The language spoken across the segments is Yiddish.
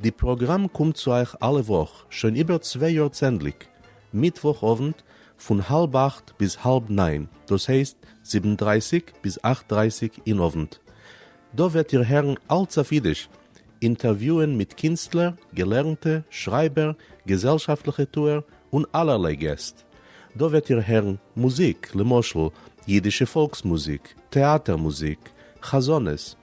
די פראגראם קומט צו אייך אלע וואך שוין איבער צוויי יאר צענדליג מיטוואך אוונט פון האלב אכט ביז האלב ניין דאס הייסט זיבן דרייסיג ביז אכט דרייסיג אין אוונט. דא וועט איר הערן אלץ אויף אידיש, אינטערוויוען מיט קינסטלער, געלערנטע, שרייבער, געזעלשאפטליכע טוער און אלערליי געסט. דא וועט איר הערן מוזיק למשל אידישע פאלקס מוזיק, טעאטער מוזיק, חזנות,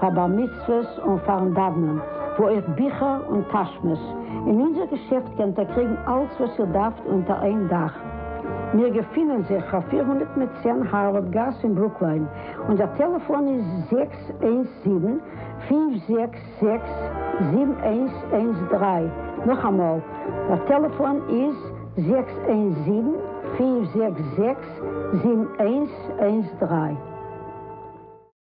פאר בר מצוות און פארן דאוונען, וואו אויך ביכער און טאשמעס, אין אונזער געשעפט קענט איר קריגן אלץ וואס איר דארפט אונטער איין דאך. מיר געפינען זיך פאר פֿיר הונדערט מיט צען הארווארד גאס אין ברוקליין, אונזער טעלעפאן איז זעקס איינס זיבן, פֿינף זעקס זעקס, זיבן איינס איינס דרײַ, נאכאמאל, דער טעלעפאן איז זעקס איינס זיבן, פֿינף זעקס זעקס, זיבן איינס איינס דרײַ.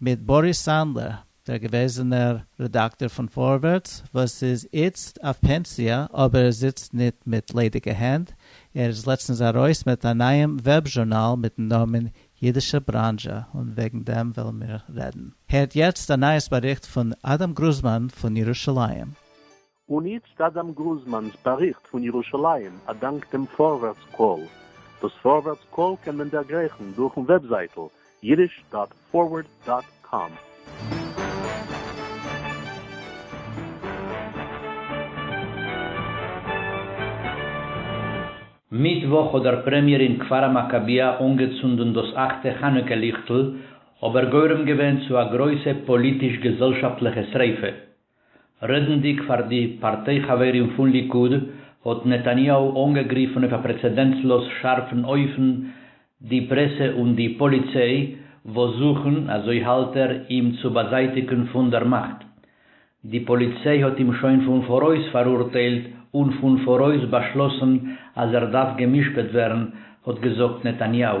מיט באריס סאנדלער, דער געוועזענער רעדאקטאר פון פארווערטס וואס איז איצט אויף פענסיע אבער ער זיצט ניט מיט ליידיגע הענט, ער איז לעצטנס ארויס מיט א נייעם וועב זשורנאל מיטן נאמען אידישע בראנזשע און וועגן דעם וועלן מיר רעדן. הערט יעצט א נייעס באריכט פון אדם גרוזמאן פון ירושלים. און איצט אדם גרוזמאן'ס באריכט פון ירושלים א דאנק דעם פארווערטס קול. דאס פארווערטס קול קען מען דערגרייכן דורכן וועבזייטל יידיש דאט פארווערד דאט קאם. מיטוואך האט דער פרעמיער אין כפר המכביה אנגעצונדן דאס אכטע חנוכה ליכטל, אבער גורם געווען צו א גרויסע פאליטיש-געזעלשאפטליכע שריפה, רעדנדיג פאר די פארטיי חברים פון ליכוד האט נתניהו אנגעגריפן אויף א פרעצעדענטסלאז שארפן אופן די פרעסע און די פאליציי וואס זוכן, אזוי האלט ער, אים צו באזייטיגן פון דער מאכט. די פאליציי האט אים שוין פון פאראויס פאראורטיילט און פון פאראויס באשלאסן אז ער דארף גע'משפט ווערן, האט געזאגט נתניהו.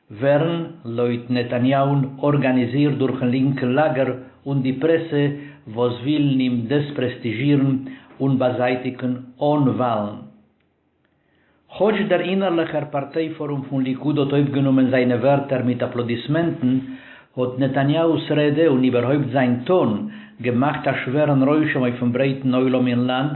ווערן, לויט נתניהו'ן, ארגאניזירט דורכ'ן לינקע לאגער און די פרעסע וואס ווילן אים דעספרעסטיזשירן און באזייטיגן אן וואלן. כאטש דער אינערליכער פארטיי פארום פון ליכוד האט אויפגענומען זיינע ווערטער מיט אפלאדיסמענטן, האט נתניהו'ס רעדע און איבערהויפט זיין טאן געמאכט א שווערן רושם אויפ'ן ברייטן עולם אין לאנד,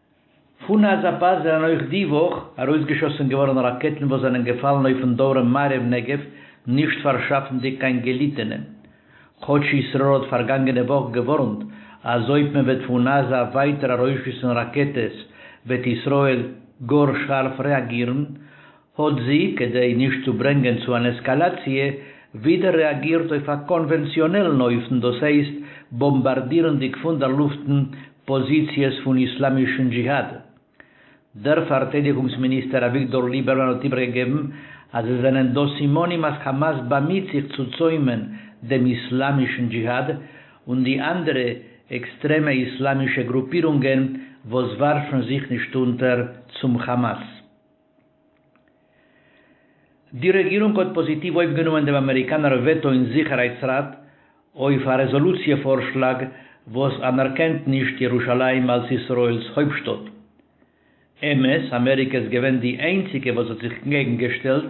פון עזה פאס זענען אויך די וואך ארויסגעשאסן געווארן ראקעטן וואס זענען געפאלן אויפן דרום מערב נגב, נישט פארשאפנדיג קיין געליטענע. כאטש ישראל האט פארגאנגענע וואך געווארנט אז אויב מען וועט פון עזה ווייטער ארויסשיסן ראקעטעס וועט ישראל גאר שארף רעאגירן, האט זי, כדי נישט צו ברענגען צו אן עסקאלאציע, ווידער רעאגירט אויף א קאנווענציאנעלן אופן, דאס הייסט באמבארדירנדיג פון דער לופטן פאזיציעס פון איסלאמישן דזשיהאד. דער פארטיידיגונגס מיניסטער אביגדור ליבערמאן האט איבערגעגעבן אז עס זענען דא סימנים אז כאמאס באמיט זיך צו צוימען דעם איסלאמישן דזשיהאד און די אנדערע עקסטרעמע איסלאמישע גרופירונגען וואס ווארפן זיך נישט אונטער צום כאמאס. די רעגירונג האט פאזיטיוו אויפגענומען דעם אמעריקאנער וועטא אין זיכערהייטס ראט אויף א רעזאלוציע פארשלאג וואס אנערקענט נישט ירושלים אלס ישראל'ס הויפטשטאט. אמת, אמעריקע איז געווען די איינציגע וואס האט זיך קעגן געשטעלט,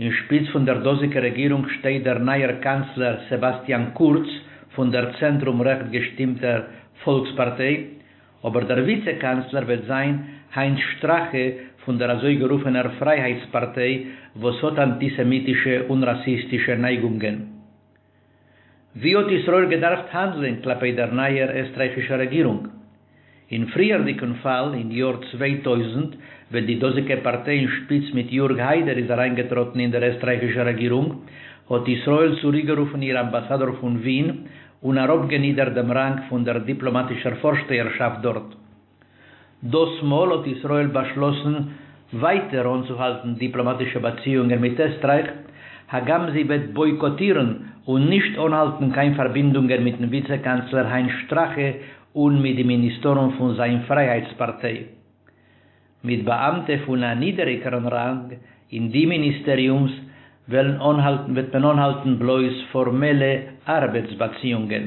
אין שפיץ פון דער דאזיגער רעגירונג שטייט דער נייער קאנצלער סעבאסטיאן קורץ פון דער צענטרום רעכט געשטימטער פאלקס פארטיי, אבער דער וויצע קאנצלער וועט זיין היינס שטראכע פון דער אזוי גערופענער פרייהייטס פארטיי וואס האט אנטיסעמיטישע און ראסיסטישע נייגונגען. ווי האט ישראל געדארפט האנדלען כלפי דער נייער עסטרייכישער רעגירונג? אין פריערדיגן פאל, אין יאר צוויי טויזנט, ווען די דאזיגע פארטיי אין שפיץ מיט יארג היידער איז אריינגעטראטן אין דער עסטרייכישער רעגירונג, האט ישראל צוריקגערופן איר אמבאסאדאר פון ווין און אראפגענידערט דעם ראנג פון דער דיפלאמאטישער פארשטייערשאפט דארט. דאס מאל האט ישראל באשלאסן ווייטער אנצוהאלטן דיפלאמאטישע באציאונגען מיט עסטרייך, הגם זי וועט בויקאטירן און נישט אנהאלטן קיין פארבינדונגען מיט'ן וויצע קאנצלער היינס שטראכע און מיט די מיניסטארן פון זיין פרייהייטס פארטיי. מיט באאמטע פון א נידעריגערן ראנג אין די מיניסטעריומס וועלן אנהאלטן וועט מען אנהאלטן בלויז פארמעלע ארבעטס באציאונגען.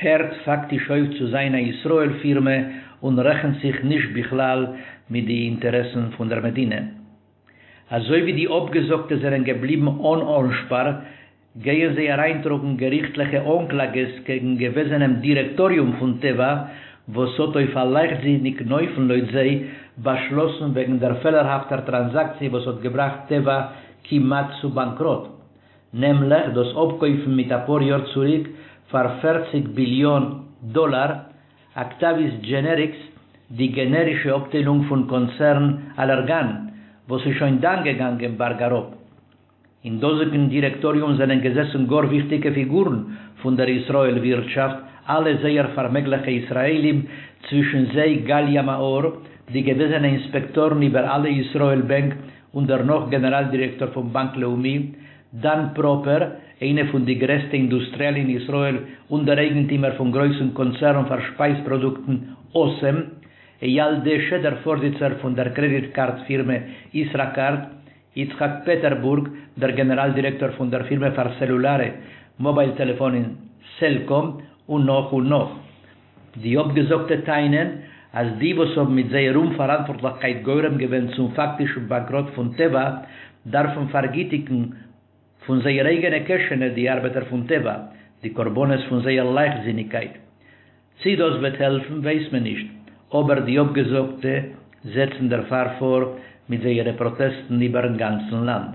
הערט פאקטיש אויף צו זיין א ישראל פירמע און רעכנט זיך נישט בכלל מיט די אינטערעסן פון דער מדינה. אזוי ווי די אפגעזאגטע זענען געבליבן אן אנשפאר, גייען זיי אריינטראגן געריכטליכע אנקלאגעס קעגן געוועזענעם דירעקטאריום פון טבע וואס האט אויף א לייכטזיניגן אופן לויט זיי באשלאסן וועגן דער פעלערהאפטער טראנזאקציע וואס האט געבראכט טבע כמעט צו באנקראט נעמליך דאס אפקויפן מיט אפאר יאר צוריק פאר פֿערציק ביליאן דאלאר אקטאוויס דזשענעריקס, די גענערישע אפטיילונג פון קאנצערן אלערגאן, וואס איז שוין דאן געגאנגען בארג אראפ. אין דאזיגן דירעקטאריום זענען געזעסן גאר וויכטיגע פיגורן פון דער ישראל ווירטשאפט, אלע זייער פארמעגליכע ישראלים, צווישן זיי גליה מאור, די געוועזענע אינספעקטארן איבער אלע ישראל בענק און דערנאך גענעראל דירעקטאר פון באנק לאומי, דאן פראפער, איינע פון די גרעסטע אינדוסטריעל אין ישראל און דער אייגנטימער פון גרויסן קאנצערן פאר שפייז פראדוקטן אסם, אייל דעשע, דער פארזיצער פון דער קרעדיט קארד פירמע ישראכרט, יצחק פעטערבורג, דער גענעראל דירעקטאר פון דער פירמע פאר סעלולארע מאבייל טעלעפאנען סעלקאם, און נאך און נאך. די אפגעזאגטע טענה'ן אז די וואס האבן מיט זייער אומפאראנטווארטליכקייט גורם געווען צום פאקטישן באנקראט פון טבע דארפן פארגיטיגן פון זייער אייגענע קעשענע די ארבעטער פון טבע, די קרבנות פון זייער לייכטזיניגקייט. צי דאס וועט העלפן ווייס מען נישט, אבער די אפגעזאגטע זעצן דערפאר פאר מיט זייערע פראטעסטן איבער'ן גאנצן לאנד.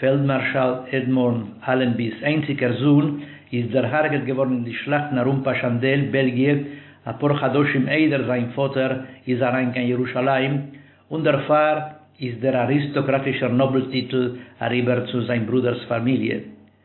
פעלדמארשאל עדמונד אלענבי'ס איינציגער זון איז דערהארגעט געווארן אין די שלאכטן ארום פאשאנדעל, בעלגיע, אפאר חדשים איידער זיין פאטער איז אריין קיין ירושלים, און דערפאר איז דער אריסטאקראטישער נאבל טיטל אריבער צו זיין ברודער'ס פאמיליע.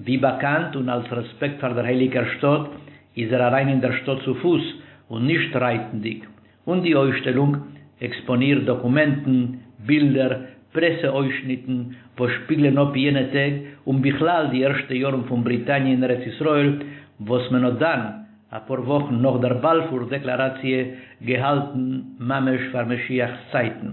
ווי באקאנט און אלס רעספעקט פאר דער הייליגער שטאט איז ער אריין אין דער שטאט צו פוס און נישט רייטנדיג, און די אויסשטעלונג עקספאנירט דאקומענטן, בילדער, פרעסע אויסשניטן וואס שפיגלען אפ יענע טעג און בכלל די ערשטע יארן פון בריטאניע אין ארץ ישראל וואס מען האט דאן, אפאר וואכן נאך דער באלפור דעקלאראציע, געהאלטן ממש פאר משיח'ס צייטן.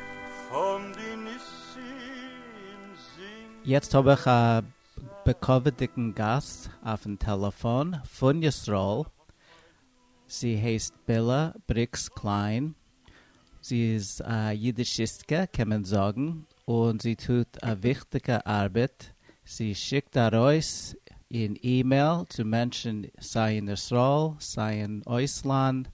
פון די ניסים זינגען. יעצט האב איך א בכבוד'דיגן גאסט אויפן טעלעפאן פון ישראל, זי הייסט בעלע בריקס קליין, זי איז א אידישיסטקע קען מען זאגן, און זי טוט א וויכטיגע ארבעט, זי שיקט ארויס אין אימעיל צו מענטשן סיי אין ישראל סיי אין אויסלאנד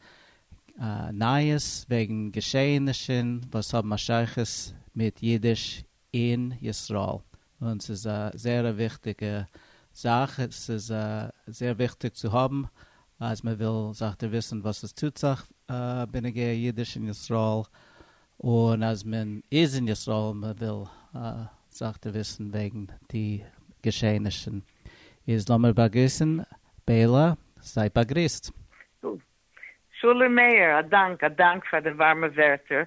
נייעס וועגן געשעהענישן וואס האבן א שייכות מיט אידיש אין ישראל, און ס'איז א זערע וויכטיגע זאך, ס'איז זעהר וויכטיג צו האבן אז מען וויל זיך דערוויסן וואס עס טוט זיך בנוגע אידיש אין ישראל, און אז מען איז אין ישראל און מען וויל זיך דערוויסן וועגן די געשעהענישן, איז לאמיר באגריסן בעלא, זייט באגריסט. טוב, שלום מאיר, א דאנק, א דאנק פאר די ווארמע ווערטער.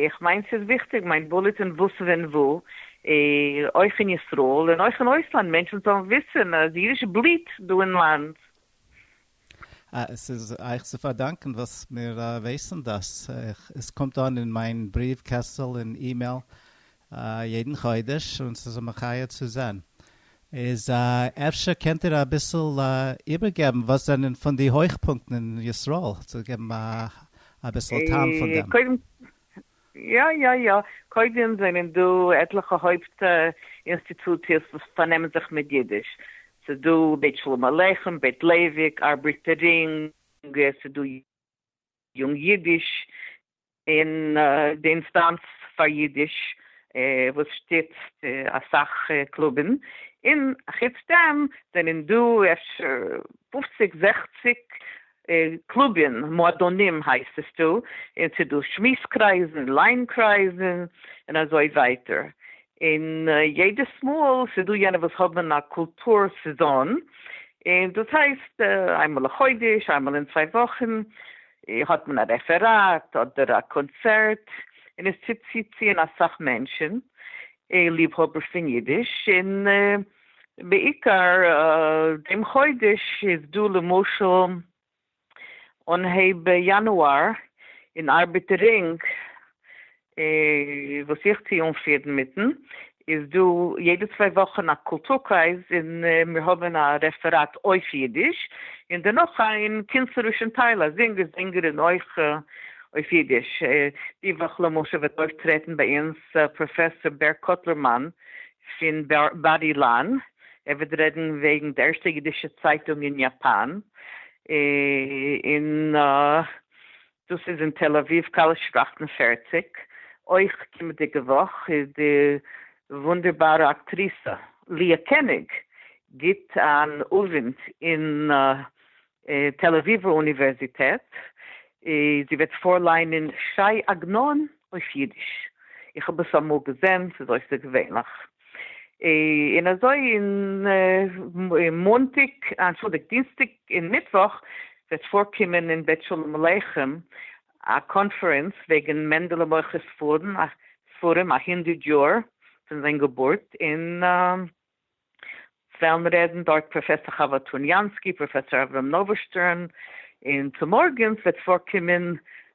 איך מיין ס'איז וויכטיג מיין בולעטין וואס ווען וואו, אויך אין ישראל און אויך אין אויסלאנד, מענטשן זאלן וויסן אז אידיש בליעט דא אין לאנד. עס איז אייך צו פארדאנקען וואס מיר ווייסן דאס. עס קומט אן אין מיין בריוו קעסטל און אימעיל א יעדן חודש און ס'איז א מחיה צו זען. איז אפשר קענט איר אביסל איבערגעבן וואס זענען פון די הויכפונקטן אין ישראל צו געבן אביסל טעם פון דעם. יא יא יא, קודם זענען דא עטליכע הויפט אינסטיטוציעס וואס פארנעמען זיך מיט אידיש, ס'איז דא בית שלום עליכם, בית לייוויק, ארבערטער רינג, ס'איז דא. יונג יידיש און די אינסטאנץ פאר יידיש וואס שטיצט אסאך קלובים, און חוץ דעם זענען דא אפשר פופציג זעכציג קלובין, מועדונים הייסט עס דא, און ס'איז דא שמועס קרייזן, ליין קרייזן, און אזוי ווייטער, און יעדעס מאל ס'איז דא יענע וואס האבן א קולטור סעזאן, און דאס הייסט איינמאל א חודש, איינמאל אין צוויי וואכן האט מען א רעפעראט אדער א קאנצערט, און עס טוט צוציען אסאך מענטשן און ליבהאבערס פון אידיש, און בעיקר דעם חודש איז דא למשל אנהייב יאנואר אין ארבעטערינג וואס איך טוה אנפירן מיטן איז דא יעדע צוויי וואכן א קולטור קרייז און מיר האבן א רעפעראט אויף אידיש און דערנאך אין קינצערישן טייל א זינגער זינגערין אויך אויף אידיש די וואך למשל וועט אויפטרעטן ביי אונז פראפעסאר בער קאטלערמאן פון באדי לאן, ער וועט רעדן וועגן די ערשטע אידישע צייטונג אין יאפאן, און דאס איז אין תל אביב קאליש אַכט און פֿערציק, אויך קומעדיגע וואך איז די וואונדערבארע אקטריסע ליה קעניג גיבט אן אוונט אין תל אביב'ער אוניווערזיטעט, זי וועט פארליינען ש"י עגנון אויף אידיש, איך האב עס אמאל געזען, ס'איז אויסערגעווענליך, און אזוי און מאנטאג, אנטשולדיגט, דינסטאג און מיטוואך וועט פארקומען אין בית שלום עליכם א קאנפערענס וועגן מענדעלע מוכר ספרים א הונדערט יאר פון זיין געבורט אין וועלן רעדן דארט פראפעסאר חוה טוניאנסקי, פראפעסאר אברהם נאוואשטרן, און צומארגנס וועט פארקומען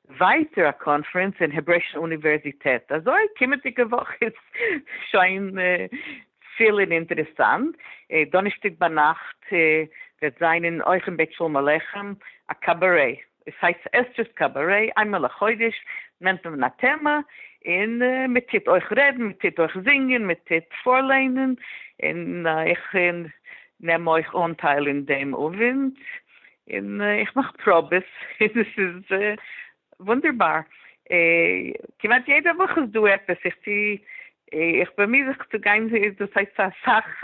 ווייטער א קאנפרענס אין העברעישן אוניווערזיטעט, אזוי קומענדיגע וואך איז שוין פיל און אינטערעסאנט, דאנערשטאג ביינאכט וועט זיין אויך אין בית שלום עליכם א קאבארעי. עס הייסט עס דזשאסט קאבארעי, איין מאל א חודש נעמט מען א טעמע און מען טוט אויך רעדן, מען טוט אויך זינגען, מען טוט פארליינען, און איך נעם אויך אנטייל אין דעם אווענט, און איך מאך פראבעס, און עס איז וואונדערבאר, כמעט יעדע וואך איז דא עפעס, איך טוה, איך באמיר זיך צו גיין, דאס הייסט אסאך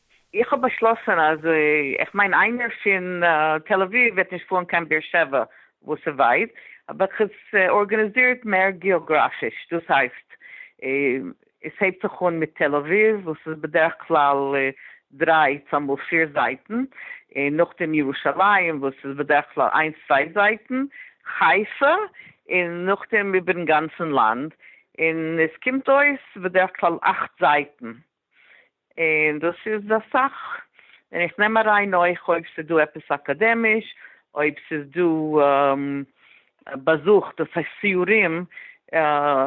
איך האב באשלאסען אז איך מיין איינער פין תל אביב וועט נישט פארן קיין באר שבע וואס איז ווייט האב איך עס ארגענעזירט מער געאגראפיש דאס הייסט עס הייבט זיך אן מיט תל אביב וואס איז בדרך כלל דריי צומאל פיר זייטען אין נאכדעם ירושלים וואס איז בדרך כלל איינס צוויי זייטען חיפה אין נאכדעם איבערן גאנצען לאנד אין עס קומט אויס בדרך כלל אכט זייטען און דאס איז אסאך, און איך נעם אריין אויך אויב ס'איז דא עפעס אקאדעמיש, אויב ס'איז דא באזוך, דאס הייסט סיורים,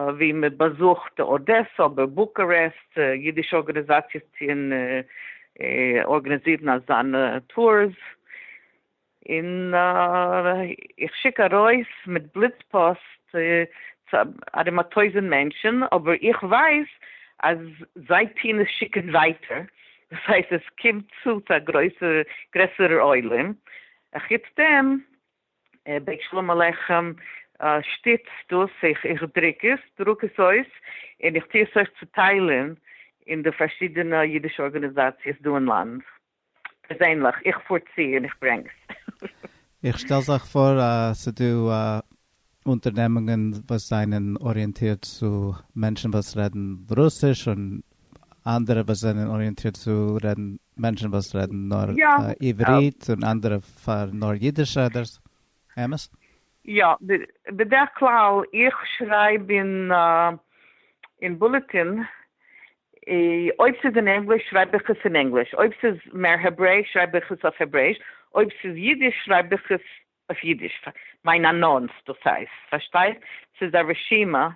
ווי מען באזוכט אדעסא אדער בוקארעסט, אידישע ארגאניזאציעס טוען ארגאניזירן אזאנע טורס. און איך שיק ארויס מיט בליץ פאסט ארום א טויזענט מענטשען, אבער איך ווייס אז זיי טוהן עס שיקען ווייטער, דאס הייסט עס קומט צו צו א גרעסערע עולם, אחוץ דעם בית שלום עליכם שטיצט דאס, איך דרוק עס, דרוק עס אויס, און איך טוה עס אויך צוטיילען אין די פארשידענע אידישע ארגאניזאציעס דא אין לאנד. פערזענליך, איך פאר צו און איך ברענג עס. איך שטעל זיך פאר אז ס'דא אונטערנעמונגען וואס זענען אריענטירט צו מענטשן וואס רעדן רוסיש און אנדערע וואס זענען אריענטירט צו רעדן מענטשן וואס רעדן נאר עברית און אנדערע פאר נאר אידיש רעדערס, אמת? יא, בדרך כלל איך שרייב אין בולעטין אויב ס'איז אין ענגליש שרייב איך עס אין ענגליש, אויב ס'איז מער העברעיש שרייב איך עס אויף העברעיש, אויב ס'איז אידיש שרייב איך עס אויף אידיש, מיין אנאנס דאס הייסט, פארשטייסט? ס'איז א רשימה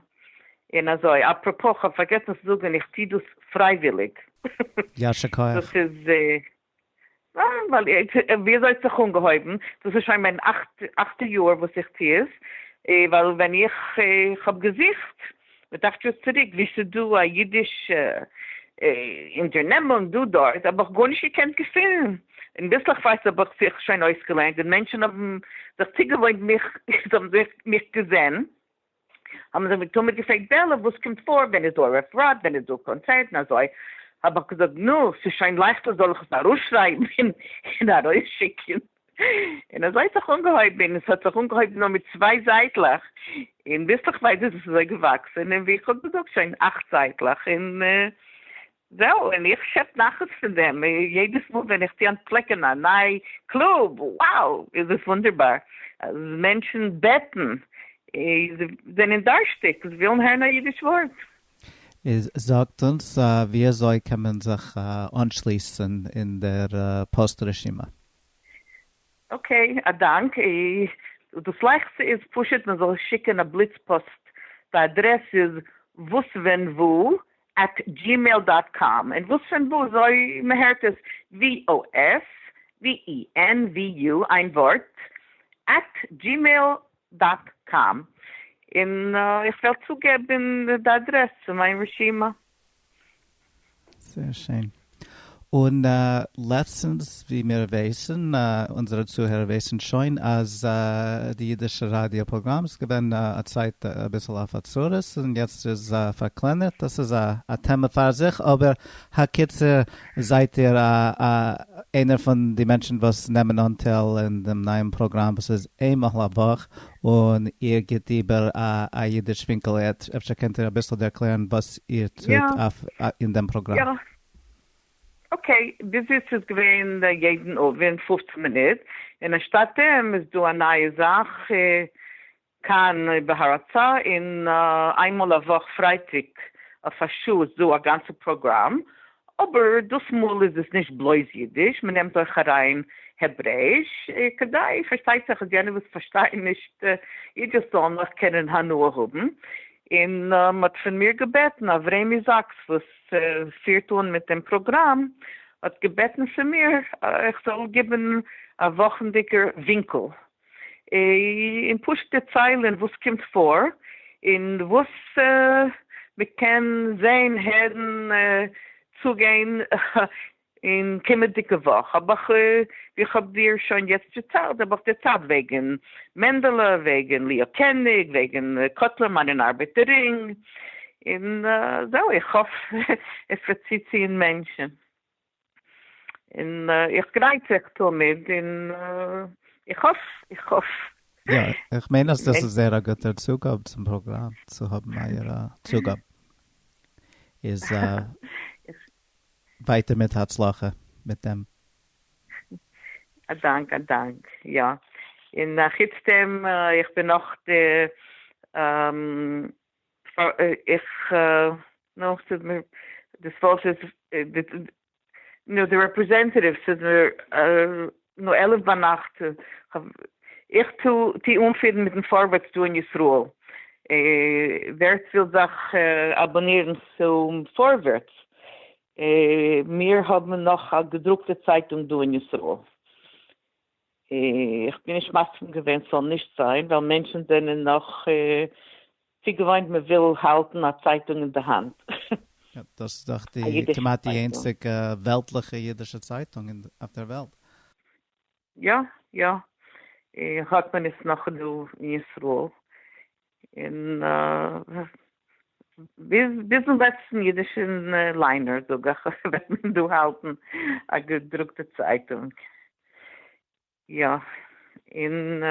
און אזוי. אפרופו, כ'האב פארגעסן צו זאגן, איך טוה דאס פרייוויליג. יישר כח. דאס איז ווייל ווי אזוי האט זיך אנגעהויבן, דאס איז שוין מיין אכטע יאר וואס איך טו עס, ווייל ווען איך האב געזוכט מיט אכט יאר צוריק ווי ס'דא א אידיש אונטערנעמונג דא דארט האב איך גארנישט געקענט געפונען, און ביסלעכווייז האב איך זיך שוין אויסגעלערנט און מענטשן האבן זיך צוגעוואוינט מיך, זיי האבן מיך געזען, האבן זיי מיר תמיד געפרעגט בערלע וואס קומט פאר, ווען איז דא ערב ראט, ווען איז דא קאנצערטן אזוי, האב איך געזאגט נו, ס'איז שוין לייכטער זאל איך עס ארויסשרייבן און ארויסשיקן, און אזוי האט זיך אנגעהויבן, און עס האט זיך אנגעהויבן נאר מיט צוויי זייטלעך, און ביסלעכווייז איז עס אזוי געוואקסן, און ווי איך האב געזאגט שוין אכט זייטלעך, און זהו, און איך שעפ נחת פון דעם יעדעס מאל ווען איך טו אנטפלעקען א ניי קלוב, wow איז עס וואונדערבאר אז מענטשען בעטן, זיי זענען דארשטיג, זיי ווילן הערן א אידיש ווארט. איז זאגט אונז ווי אזוי קען מען זיך אנשליסען אין דער פאוסט רשימה? אקעי, א דאנק. דאס לייכסטע איז פשוט מען זאל שיקען א בליץ פאסט, די אדרעס איז וואס ווען וואו עט דזשימעיל דאט קאם, און וואס פון וואו אזוי מ'הערט עס, VOS, VENVU, איין ווארט, עט דזשימעיל דאט קאם, און איך וועל צוגעבן די אדרעס צו מיין רשימה. זייער שיין. און לעצטנס ווי מיר ווייסן, אונזערע צוהערער ווייסן שוין, אז די אידישע ראדיא פראגראם איז געווען א צייט אביסל אויף א צרות און יעצט איז פארקלענערט, דאס איז א טעמע פאר זיך, אבער הקיצור זייט איר איינער פון די מענטשן וואס נעמען אנטייל אין דעם נייעם פראגראם וואס איז איינמאל א וואך און איר גיט איבער א א אידיש ווינקל עד, אפשר קענט איר אביסל ערקלערן וואס איר טוט אויף אין דעם פראגראם? יא. אקעי, ביז איצט איז געווען יעדן אוונט פֿופֿצן מינוט, און אנשטאט דעם איז דא א נייע זאך כאן בהרצה, און איינמאל א וואך פרייטאג אויף א שעה איז דא א גאנצע פראגראם, אבער דאס מאל איז עס נישט בלויז אידיש, מען נעמט אויך אריין העברעיש, כדי פארשטייט זיך אז יענע וואס פארשטייען נישט אידיש זאלן נאך קענען הנאה האבן, און מען האט פון מיר געבעטן, אברעמי זאקס וואס פירט אן מיט דעם פראגראם האט געבעטן פון מיר איך זאל גיבן א וואכנדיגער ווינקל און פשוט דערציילען וואס קומט פאר און וואס מ'קען זעהן הערן צוגיין און קומענדיגע וואך האב איך ווי איך האב דיר שוין יעצט דערציילט האב איך דערציילט וועגען מענדעלע וועגען ליאו קעניג וועגען קוטלר מאן און ארבעטער רינג און זהו איך האף עס וועט צוציען מענטשען. און איך גרייט זיך תמיד, און איך האף, איך האף. יא, איך מיין אז דאס איז זייער א גוטער צוגאב צום פראגראם, צו האבן אייער צוגאב. איז ווייטער מיט הצלחה מיט דעם. א דאנק, א דאנק. יא, און חוץ דעם, איך בין נאך די איך, נו, ס'איז מיר, דאס ווארט איז, נו, די רעפרעזענטעטיוו, ס'איז מיר, נו, עלף ביינאכט, איך טו אנפירן מיטן פארווערטס דא אין ישראל, ווער ס'וויל זיך אבאנירן צום פארווערטס, מיר האבן נאך א געדרוקטע צייטונג דא אין ישראל. איך בין נישט מסכים געווען ס'זאל נישט זיין ווייל מענטשן זענען נאך צו געוואוינט מ'וויל האלטן א צייטונג אין די האנט. יא, דאס איז דאך די כמעט די איינציגע וועלטליכע אידישע צייטונג אויף דער וועלט. יא יא, האט מען עס נאך דא אין ישראל, און ביזן לעצטן אידישן ליינער, זאג איך, וועט מען דא האלטן א געדרוקטע צייטונג. יא. און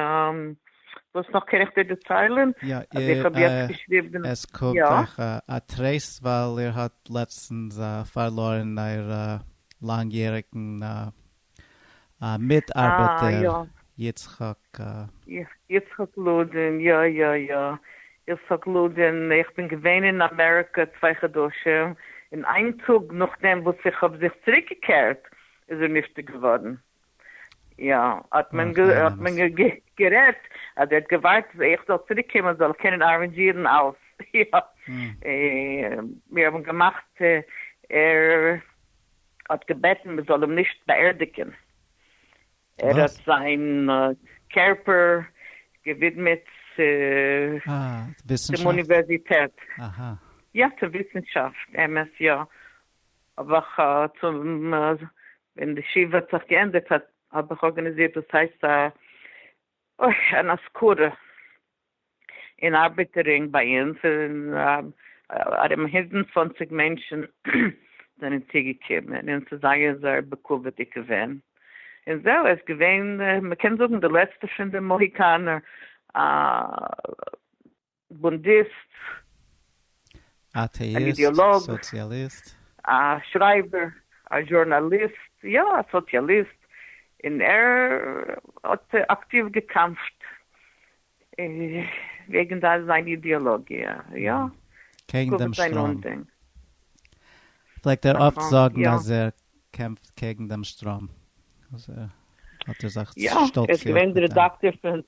וואס נאך קען איך דיר דערציילן? יא. אז איך האב יעצט געשריבן. עס קומט אייך א טרייסט ווייל איר האט לעצטנס פארלוירן אייער לאנג יעריגן א מיטארבעטער יצחק. יצחק לודען, יא יא יא, יצחק לודען, איך בין געווען אין אמעריקע צוויי חדשים, און איין טאג נאכדעם וואס איך האב זיך צוריק געקערט איז ער נפטר געווארן, יא, האט מען גערעדט אז ער האט געווארט אז איך זאל צוריק קומען זאל ער קענען ארענדזשירן אלעס, יא, מיר האבן געמאכט ער. האט געבעטן מען זאל אים נישט באערדיגען, ער האט זיין קערפער געווידמעט צום אוניווערזיטעט, יא צו וויסנשאפט, אמת יא, אבער ווען די שבעה האט זיך געענדיגט האב איך ארגאניזירט וואס הייסט א אויך אן אזכרה אין ארבעטערינג ביי אונז איז ארום הונדענט צוואנציג מענטשן זענען צוגעקומען און ס'איז זייער זייער בכבוד'יג געווען און זהו עס איז געווען מ'קען זאגן די לעצטע פון די מאהיקאנער בונדיסט. אטעאיסט. סאציאליסט. א שרייבער. א זשורנאליסט. יא, א סאציאליסט. און ער האט אקטיוו געקאמפט וועגן זיין אידעאלאגיע. יא. קעגן דעם שטראם. פלעגט ער אפט זאגן אז ער קעמפט קעגן דעם שטראם. האט ער זיך שטאלצירט מיט דעם. יא, ער איז געווען דער רעדאקטאר פון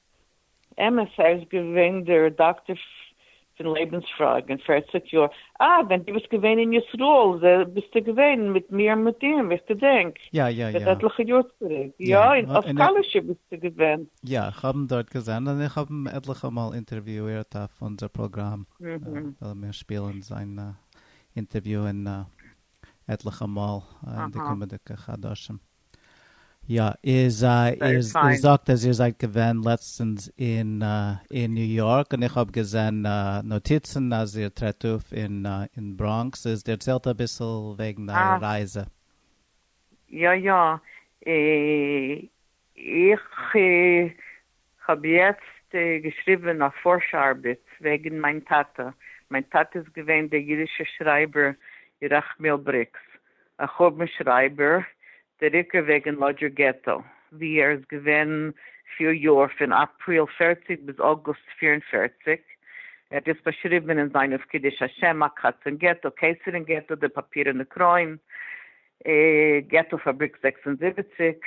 אמת, ער איז געווען דער רעדאקטאר פון לעבנס פראגע אין פערציג יאר, אה ווען דו ביסט געווען אין ישראל ביסטו געווען מיט מיר און מיט אים, איך געדענק, יא יא יא. מיט עטליכע יאר צוריק, יא, און אויף קאלישע ביסטו געווען. יא, איך האב אים דארט געזען, און איך האב אים עטליכע מאל אינטערוויאירט אויף אונזער פראגראם, וועלן מיר שפילן זיין אינטערוויו אין עטליכע מאל אין די קומענדיגע חדשים. יא, איז איר זאגט אז איר זייט געווען לעצטענס אין ניו יארק און איך האב געזען נאטיצן אז איר טרעט אויף אין בראנקס, איז דערציילט אביסל וועגן אייער רייזע. יא יא, איך כ'האב יעצט געשריבען א פארש ארבעט וועגען מיין טאטע, מיין טאטע איז געווען דער אידישע שרייבער ירחמיאל בריקס, א חורבן שרייבער, דער עיקר וועגען לאדזשער געטא, ווי ער איז געווען פיר יאר, פון אפריל פֿערציק ביז אוגוסט פֿיר און פֿערציק, ער האט דאס באשריבען אין זיין אויף קידוש השם, הקץ אין געטא, קיסר אין געטא, דער פאפירענע קרוין, געטא פאבריק זעקס און זיבעציק,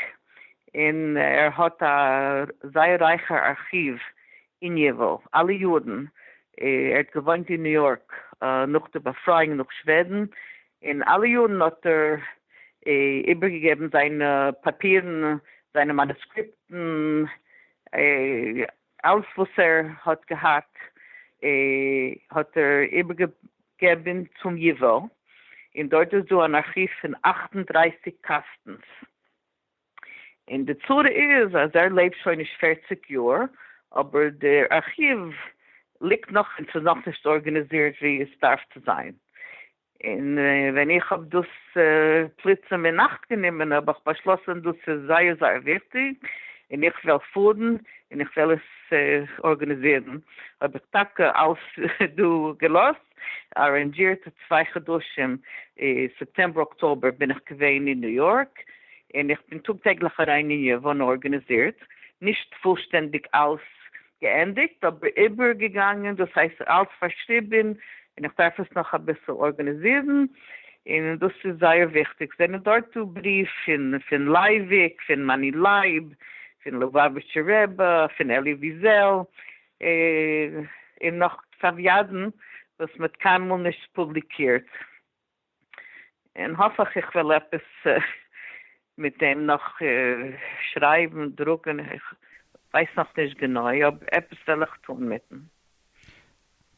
און ער האט א זייער רייכע ארכיוו אין ייווא, אלע יארן, ער האט געוואוינט אין ניו יארק נאך די באפרייאונג נאך שוועדן, און אלע יארן האט ער איבערגעגעבן זיינע פאפירן, זיינע מאנוסקריפטן. אלס וואס ער האט געהאט האט ער איבערגעגעבען צום ייווא, און דארט איז דא אן ארכיוו פון אַכט און דרײַסיק קאסטנס, און די צרה איז אז ער לעבט שוין נישט פֿערציק יאר, אבער דער ארכיוו ליגט נאך און ס'איז נאכנישט ארגענעזירט ווי עס דארף צו זיין, און ווען איך האב דאס פלוצים אינאכט גענומען האב איך באשלאסען דאס איז זייער זייער וויכטיג און איך וועל פארן און איך וועל עס ארגענעזירן האב איך טאקע אלעס דא געלאזט ארענדזשירט צוויי חדשים סעפטעמבער אקטאבער בין איך געווען אין ניו יארק און איך בין טאג טעגליך אריין אין יוון ארגענעזירט נישט פולשטענדיג אלעס געענדיגט אבער איבערגעגאנגען דאס הייסט אלץ פארשריבען און איך דארף עס נאך אביסל ארגענעזירן און דאס איז זייער וויכטיג זענען דארט דא בריוו פון פון לייוויק פון מאני לייב פון לובאוויטשער רבי פון אלי וויזעל און נאך צב ידען וואס מען האט קיינמאל נישט פובליקירט. און האף איך איך וועל עפעס מיט דעם נאך שרייבן, דרוקן, איך ווייס נאך נישט גענוי, אבער עפעס וועל איך טון מיטן.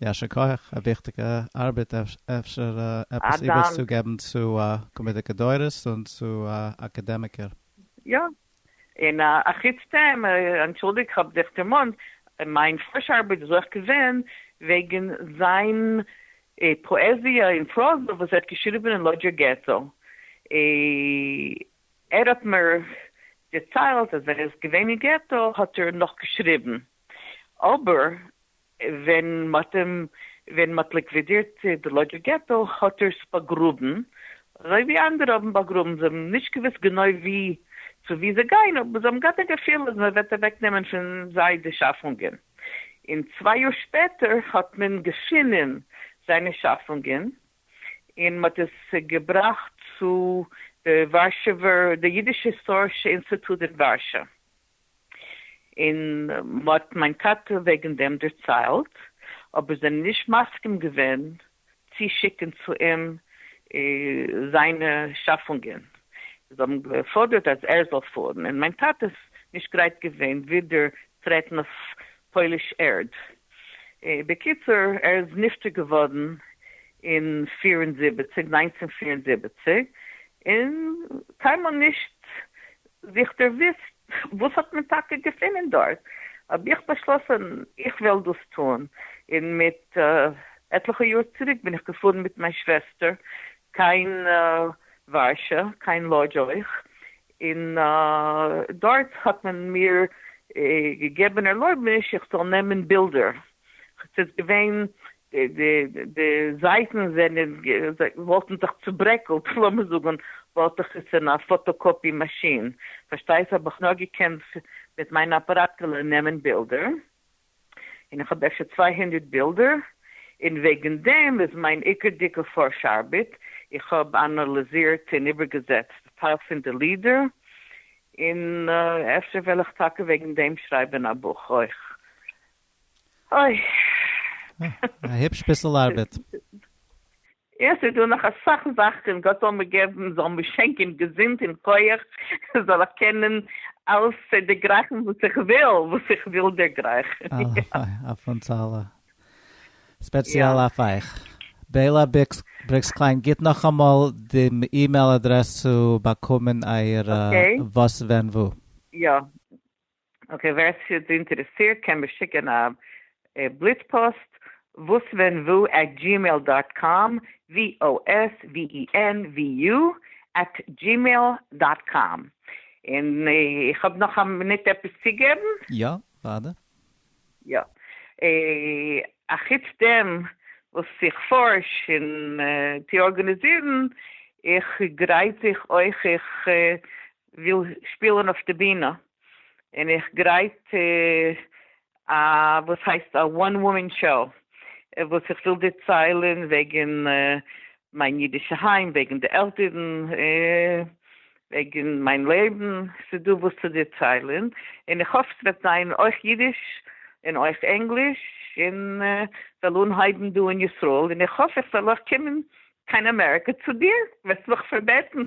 יישר כח, א וויכטיגע ארבעט, אפשר עפעס איבערצוגעבן צו קומעדיגע דורות און צו אקאדעמיקער. יא, און א חוץ דעם, אנטשולדיג כ'האב דיך דערמאנט, מיין פרישע ארבעט איז אויך געווען וועגן זיין פאעזיע און פראזע וואס ער האט געשריבן אין לאדזשער געטא. ער האט מיר דערציילט אז ווען ער איז געווען אין געטא האט ער נאך געשריבן, אבער ווען מ'האט אים ווען מ'האט ליקווידירט די לאדזשער געטא האט ער עס באגראבן, אזוי ווי אנדערע האבן באגראבן, זיי האבן נישט געוואוסט גענוי ווי צו ווי זיי גייען, אבער זיי האבן געהאט א געפיל אז מ'וועט אוועק נעמען פון זיי די שאפונגען, און צוויי יאר שפעטער האט מען געפינען זיינע שאפונגען, און מ'האט עס געבראכט צו די ווארשעווער די אידיש היסטארישע אינסטיטוט אין ווארשא. און מ'האט מיין טאטע וועגן דעם דערציילט, אבער זענען נישט מסכים געווען צי שיקן צו אים זיינע שאפונגען, זיי האבן געפאדערט אז ער זאל פארן, און מיין טאטע איז נישט גרייט געווען ווידער טרעטן אויף פויליש ערד. בקיצור, ער איז נפטר געווארן אין פֿיר און זיבעציק, נײַנצן פֿיר און זיבעציק, און קיינמאל נישט זיך דערוויסט וואס האט מען טאקע געפינען דארט, האב איך באשלאסן איך וועל דאס טון, און מיט עטליכע יאר צוריק בין איך געפארן מיט מיין שוועסטער קיין ווארשע, קיין לאדזש אויך, און דארט האט מען מיר געגעבן ערלויבעניש איך זאל נעמען בילדער. ס'איז געווען, די זייטן זענען, וואלטן זיך צוברעקלט, לאמיר זאגן, וואלט איך עס אין א פאטאקאפי מאשין, פארשטייסט? האב איך נאר געקענט מיט מיין אפאראטעלע נעמען בילדער, און איך האב אפשר צוויי הונדערט בילדער, און וועגן דעם איז מיין עיקר דיקע פארש ארבעט, איך האב אנאליזירט און איבערגעזעצט טייל פון די לידער, און אפשר וועל איך טאקע וועגן דעם שרייבן א בוך אויך. אוי. א היפש ביסל ארבעט. יא, ס'איז דא נאך אסאך זאכן, גאט זאל מיר געבן, זאל מיר שענקען געזונט און כח, זאל איך קענען אלעס דערגרייכן וואס איך וויל, וואס איך וויל דערגרייכן. הלוואי אויף אונז אלע. ספעציעל אויף אייך. בעילא בריקס קליין, גיט נאכאמאל די אימעיל אדרעס צו באקומען אייערע וואס ווען וואו. יא. אקעי ווער עס איז אינטערעסירט קען מיר שיקען א בליץ פאסט וואס ווען וואו עט גימעיל דאט קאם VOSVENVU עט גימעיל דאט קאם און איך האב נאך א מינוט עפעס צוגעבן? יא, וואדע. יא. אחוץ דעם וואס איך פארש און טו ארגאניזירן, איך גרייט זיך אויך, איך וויל שפילען אויף די בינע און איך גרייט א וואס הייסט א וואן וואמען שאו וואס איך וויל דערציילען וועגען מיין אידישע היים וועגען די עלטערען וועגען מיין לעבען ס'איז דא וואס צו דערציילען און איך האף ס'וועט זיין אויך אידיש און אויך ענגליש און כ'וועל אנהייבען דא אין ישראל און איך האף איך וועל אויך קומען קיין אמעריקא צו דיר וועסט מיך פארבעטען.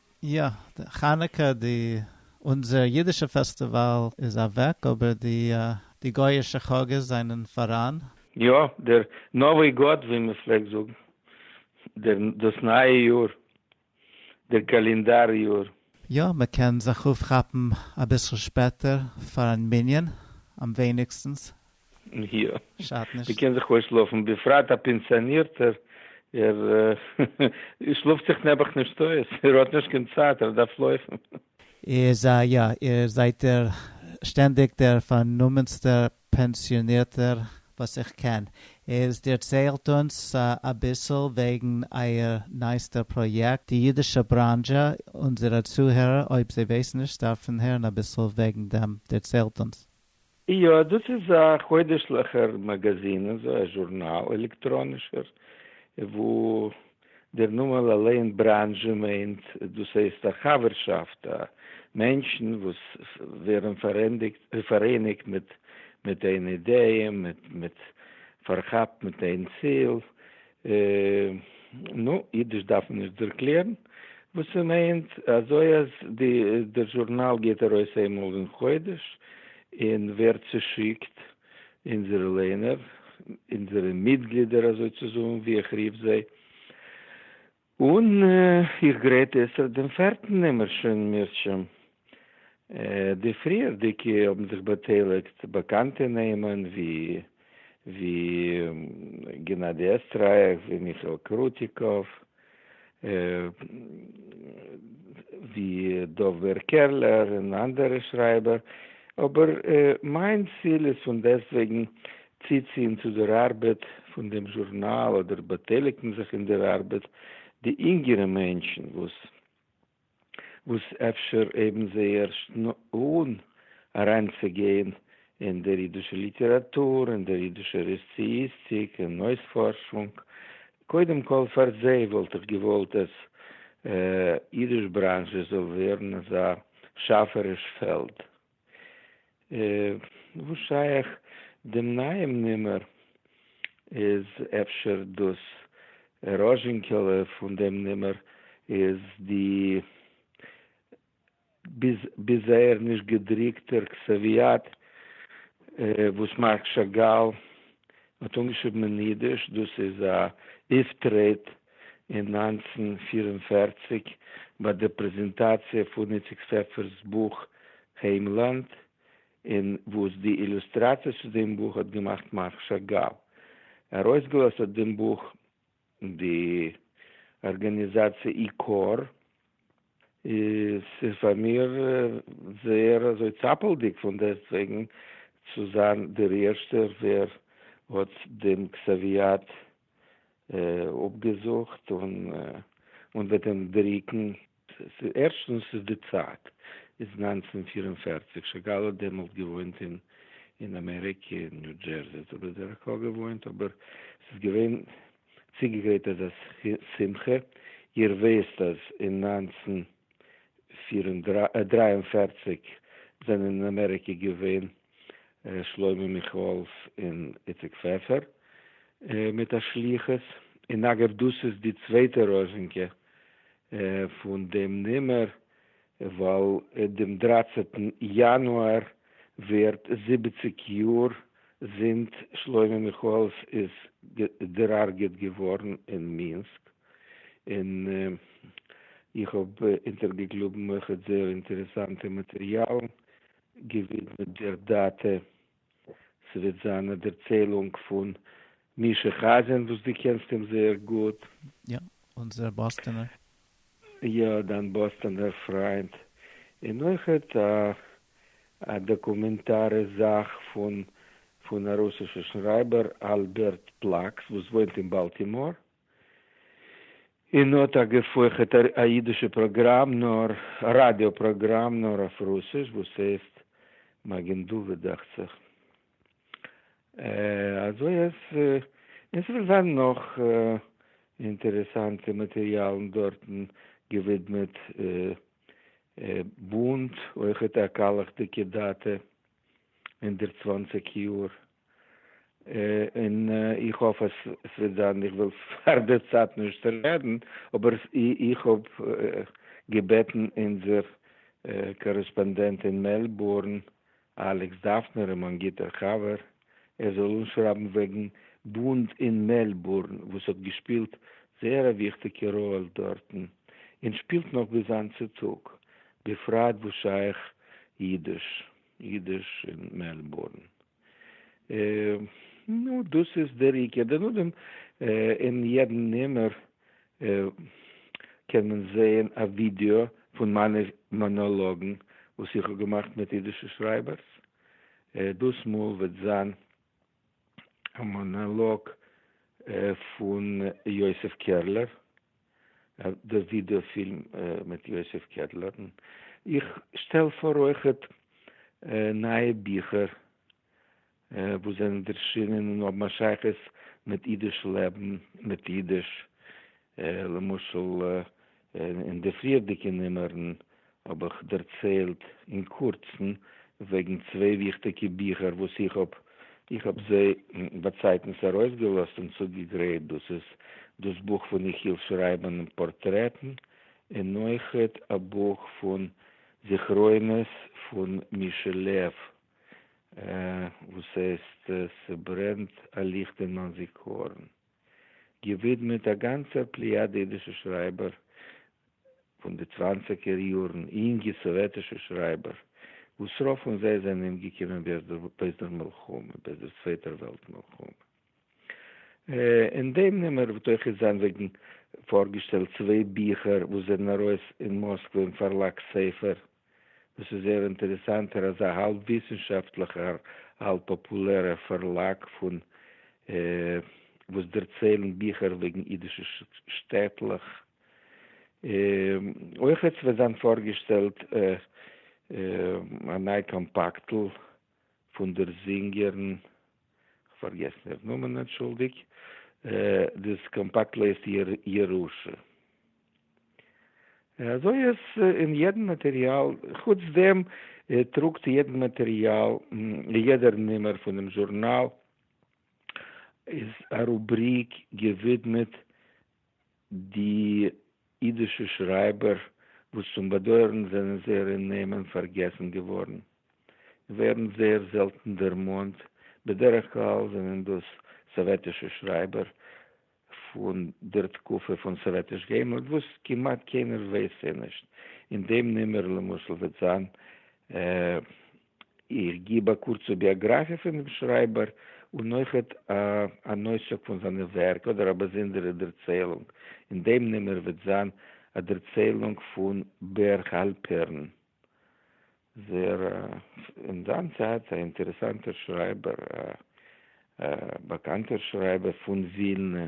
יא, די חנוכה די אונזער אידישע פעסטיוואל איז אוועק אבער די די גויאישע חאגעס זענען פאראן. יא, דער נאווי גאד ווי מען פלעגט זאגן, דער דאס נייע יאר, דער קאלינדאר יאר. יא, מען קען זיך אויפכאפן אביסל שפעטער פארן מנין, אמווייניגסטנס מיר שאדט נישט. מ'קען זיך אויסשלאפן, בפרט א פענסיאנירטער, ער שלאפט זיך נעבעך נישט אויס, ער האט נישט קיין צייט, ער דארף לויפן. איר זיי יא, איר זייט דער שטענדיג דער פארנומענסטער פענסיאנירטער וואס איך קען. איז דערציילט אונז אביסל וועגן אייער נייעסטער פראיעקט, די אידישע בראנזשע, אונזערע צוהערער אויב זיי ווייסן נישט דארפן הערן אביסל וועגן דעם, דערציילט אונז. יא, דאס איז א חודש'ליכער מאגאזין, אזוי א זשורנאל, עלעקטראנישער, וואו דער נאמען אליין, בראנזשע, מיינט, דאס הייסט א חבר'שאפט, א מענטשן וואס ווערן פאראייניגט מיט איין אידעע, מיט, מיט, פארכאפט מיט איין ציל, אה, נו, אידיש דארף מען נישט ערקלערן וואס ס'מיינט, אזוי אז דער זשורנאל גייט ארויס איינמאל אין חודש און ווערט צושיקט אונזערע ליינער, אונזערע מיטגלידער אזוי צו זאגן, ווי איך רוף זיי. און איך גרייט עסער דעם פערטן נומער שוין מרשם. די פריערדיגע האבן זיך באטייליגט באקאנטע נעמען ווי ווי גענאדי עסטרייך, ווי מיכאל קרוטיקוב, ווי דוב בער קערלער און אנדערע שרייבער, אבער מיין ציל איז פון דעסטוועגן צוציען צו דער אַרבעט פֿון דעם זשורנאַל אָדער באַטײליקן זיך אין דער אַרבעט די ייִנגערע מענטשן, װאָס װאָס אפֿשר הײבן זײ ערשט אָן אַרײַנצוגײן אין דער ייִדישער ליטעראַטור, אין דער ייִדישער עססעיִסטיק און אױספֿאָרשונג. קודם-כּל, פֿאַר זײ װאָלט איך געװאָלט, אַז ייִדיש-בראַנזשע זאָל װערן אַזאַ שאַפֿעריש פֿעלד, וואס שייך דעם נייעם נומער? איז אפשר דאס ראזשינקעלע פון דעם נומער איז די ביז זייער נישט געדרוקטער קסעוויאט וואס מארק שאגאל מ'האט אנגעשריבן אין אידיש, דאס איז א אויפטרעט אין נײַנצן פֿיר און פֿערציק ביי די פרעזענטאציע פון איציק פעפער'ס בוך היימלאנד, און וואס די אילוסטראציעס צו דעם בוך האט געמאכט מרק שאגאל. ארויסגעלאזט האט דעם בוך די ארגאניזאציע עיקור איז פאר מיר זייער אזוי צאפעלדיג פון דעסטוועגן צו זיין דער ערשטער ווער האט דעם קסאוויאט אפגעזאגט און וועט אים דריקן. ערשטנס איז די צייט איז נײַנצן פֿיר און פֿערציק שאגאל האט דעמאלט געוואוינט אין אין אמעריקע אין ניו דזשערזי האט ער בדרך כלל געוואוינט אבער ס'איז געווען צוגעגרייט אזא שמחה איר וויסט אז אין נײַנצן פֿיר און דרײַ און פֿערציק זענען אין אמעריקע געווען ר' שלמה מיכאלס און איציק פעפער מיט א שליחות, און אגב דאס איז די צווייטע ראזשינקע פון דעם נומער, ווייל דעם דרייצעטן יאנואר ווערט זיבעציג יאר זינט שלמה מיכאלס איז דערהרגעט געווארן אין מינסק, און איך האב אונטערגעקלאבן אויכעט זייער אינטערעסאנטע מאטריאלן געווידמעט דער דאטע. ס'וועט זיין א דערציילונג פון מישא חזן וואס דו קענסט אים זייער גוט. יא, אונזער באסטענער. יא, דיין באסטענער פריינט. און אויכעט א דאקומענטארע זאך פון א רוסישע שרייבער אלבערט פלאקס וואס וואוינט אין באלטימאר. און האט א געפויכעטע א אידישע פראגראם נאר ראדיא פראגראם נאר אויף רוסיש וואס הייסט מגן דוד דאכט זיך אזוי אז און ס'וועט זיין נאך אינטערעסאנטע מאטריאלן דארטן געווידמעט בונד אויכעט א קאלעכדיגע דאטע. הונדערט צוואַנציק יאר, און איך האף אז עס וועט זיין, איך וויל פאר די צייט נישט רעדן, אבער איך האב געבעטן אונזער קארעספאנדענט אין מעלבורן, אלעקס דאפנער, און מיין גוטער חבר, ער זאל אנשרייבן וועגן באנד אין מעלבורן, וואס האט געשפילט זייער א וויכטיגע ראל דארטן, און שפילט נאך ביז היינט צו טאג, בפרט וואס שייך אידיש, אידיש אין מעלבורן. נו, דאס איז דער עיקר. דערנאדעם אין יעדן נומער קען מען זעהן א ווידעא פון מיינע מאנאלאגן וואס איך האב געמאכט מיט אידישע שרייבערס. דאס מאל וועט זיין א מאנאלאג פון יוסף קערלער, די ווידעא פילם מיט יוסף קערלער, איך שטעל פאר אויכעט נייע ביכער וואס זענען ערשינען און האבן א שייכות מיט אידיש לעבן, מיט אידיש, למשל. אין די פריערדיגע נומערן האב איך דערציילט אין קורצן וועגן צוויי וויכטיגע ביכער וואס איך האב איך האב זיי באצייטנס ארויסגעלאזט און צוגעגרייט, דאס איז דאס בוך פון איך היל שרייבן פארטרעטן און אויכעט א בוך פון זכרונות פון מישעלעוו וואס הייסט ס'ברענט א ליכט אין מיין זיכרון. געווידמעט א גאנצער פליאדע אידישע שרייבער פון די צוואנציגער יארן, יונגע סאוועטישע שרייבער, וואס רוב פון זיי זענען אומגעקומען בעת דער מלחמה, בעת דער צווייטער וועלט מלחמה. אין דעם נומער וועט אויך איז זיין וועגן פארגעשטעלט צוויי ביכער וואס זענען ארויס אין מאסקווע אין פארלאג ספר, דאס איז זייער אינטערעסאנטער אזא האלב וויסנשאפטליכער האלב פאפולערער פארלאג פון וואס דערציילן ביכער וועגן אידישע שטעטלעך. אויכעט וועט זיין פארגעשטעלט א ניי קאמפאקטל פון דער זינגערין, כ'פארגעסן איר נאמען, אנטשולדיג, דאס קאמפאקט לייסט איר ירושה. אזוי אז אין יעדן מאטעריאל, חוץ דעם טראגט יעדן מאטעריאל, יעדער נומער פונעם זשורנאל איז א רובריק געווידמעט די אידישע שרייבער וואס צום באדויערן זענען זייערע נעמען פארגעסן געווארן, ווערן זייער זעלטן דערמאנט, בדרך כלל זענען דאס סאוועטישע שרייבער פון דער תקופה פון סאוועטיש געימלט וואס כמעט קיינער ווייסט זיי נישט, אין דעם נומער למשל וועט זיין איך גיב א קורצע ביאגראפיע פון דעם שרייבער, און אויכעט אן אויסצוג פון זיינע ווערק, אדער א באזונדערע דערציילונג, און דעם נומער וועט זיין א דערציילונג פון בער האלפערן ז ל, אין זיין צייט א אינטערעסאנטער שרייבער, א באקאנטער שרייבער פון ווילנע.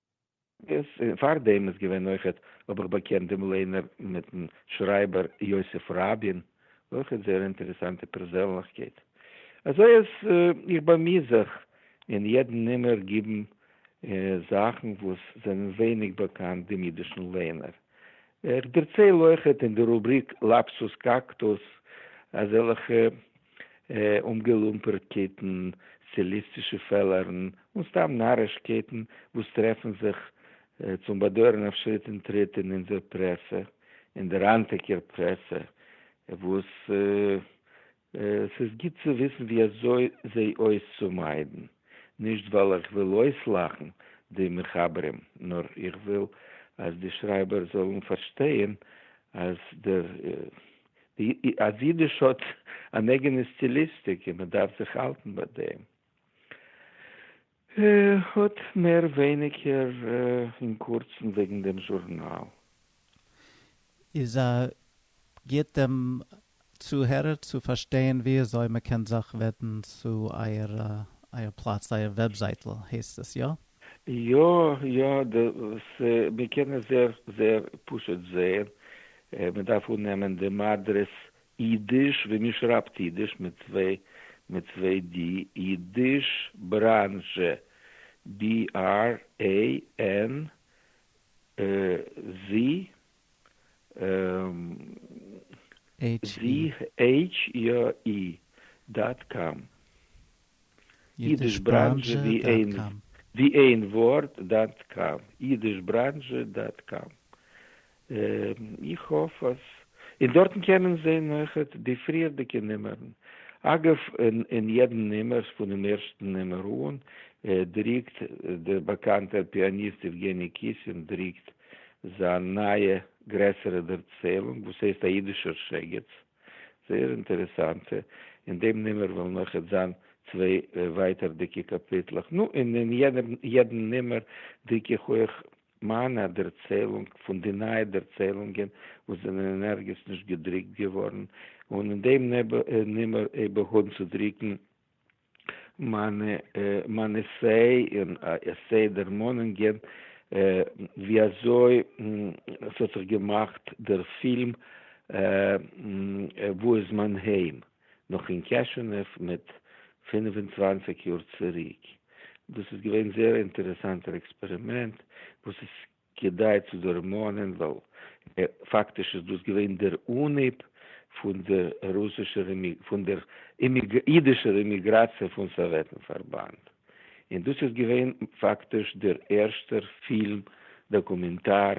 איז פאר דעם איז געווען אויכעט האב איך באקענט דעם לערנער מיטן שרייבער יוסף ראבין, אויכעט זייער אינטערעסאנטע פערזענליכקייט. אזוי אז איך באמיר זיך אין יעדן נומער גיבן זאכן וואס זענען ווייניג באקאנט דעם אידישן לערנער. איך דערצייל אויכעט אין די רובריק לאפסוס קאקטוס אזעלכע אומגעלומפערט קייטן, סטיליסטישע פעלערן, און סתם נאריש קייטן וואס טרעפן זיך צום באדויערן אויף שריט און טריט אין אונזער פרעסע, אין דער היינטיגער פרעסע, וואס ס'איז גוט צו וויסן ווי אזוי זיי אויס צו מיידן, נישט ווייל איך וויל אויסלאכן די מחברים, נאר איך וויל אז די שרייבער זאלן פארשטייען אז דער אז אידיש האט אן אייגענע סטיליסטיק און מען דארף זיך האלטן ביי דעם, האט מער ווייניגער אין קורצן וועגן דעם זשורנאל. איז א גוט דעם צוהערער צו פארשטיין ווי אזוי מען קען זיך ווענדן צו אייער פלאץ, אייער וועבזייטל הייסט עס, יא? יא יא די ס מען קען עס זעהר זעהר פשוט זעהן, מען דארף אננעמען דעם אדרעס אידיש ווי מען שרייבט אידיש מיט צוויי מיט צוויי די, אידיש בראנזשע בי אר עי ען זשי עיטש אי אי דאט קאם. אידישבראנזשע ווי איין ווארט דאט קאם. אידישבראנזשע דאט קאם. איך האף אז. און דארטן קען מען זעהן אויכעט די פריערדיגע נומערן. אגב אין יעדע נומער פונעם ערשטן נומער אן דריקט דער באקאנטער פיאניסט יעווגעני קיסין דריקט זיין נייע גרעסערע דערציילונג וואס הייסט א אידישער שגץ, זייער אינטערעסאנטע, אין דעם נומער וועלן אויך אט זיין צוויי ווייטערדיגע קאפיטלעך, נו און אין יעדן נומער דרוק איך אויך מיינע א דערציילונג פון די נייע דערציילונגען וואס זענען אין ערגעץ נישט געדרוקט געווארן, און אין דעם נומער איבער האבן צו דרוקן מיינע מיינע עסיי און עסיי דערמאנונגען ווי אזוי ס'האט זיך געמאכט דער פילם וואו איז מיין היים? נאך אין קעשענעוו מיט פֿינף און צוואַנציק יאר צוריק. דאס איז געווען זייער אינטערעסאנטער עקספערימענט וואס איז כדאי צו דערמאנען ווייל פאקטיש איז דאס געווען דער אנהייב פון דער רוסישער פון דער אידישער אימיגראציע פון סאוועטן פארבאנד, און דאס איז געווען פאקטיש דער ערשטער פילם דאקומענטאר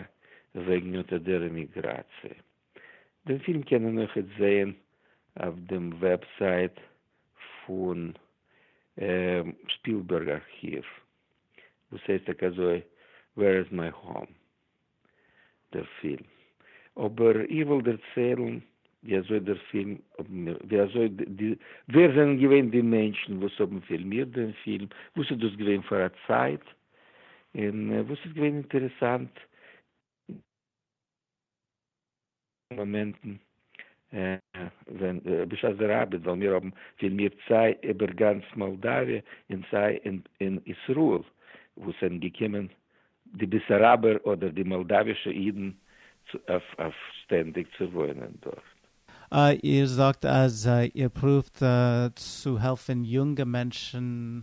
וועגן אט אט דער אימיגראציע. דעם פילם קען מען אויך איצט זען אויף דעם וועבסייט פון שפילבערג ארכיוו. וואס הייסט טאקע אזוי ווער איז מיי האום דער פילם, אבער איך וועל דערציילן ווי אזוי דער פילם האבן מיר ווי אזוי די ווער זענען געווען די מענטשן וואס האבן פילמירט דעם פילם, וואס איז דאס געווען פאר א צייט, און וואס איז געווען אינטערעסאנט. מאמענטן ווען רבי שך זענען ארבעט וועלן מיר האבן פון מיר סיי איבער גאנץ מאלדאוויע און סיי אין ישראל וואו ס'זענען געקומען די בעסאראבער אדער די מאלדאווישע אידן אויף שטענדיג צו וואוינען דארט. אה, איר זאגט אז איר פרואווט צו העלפן יונגע מענטשן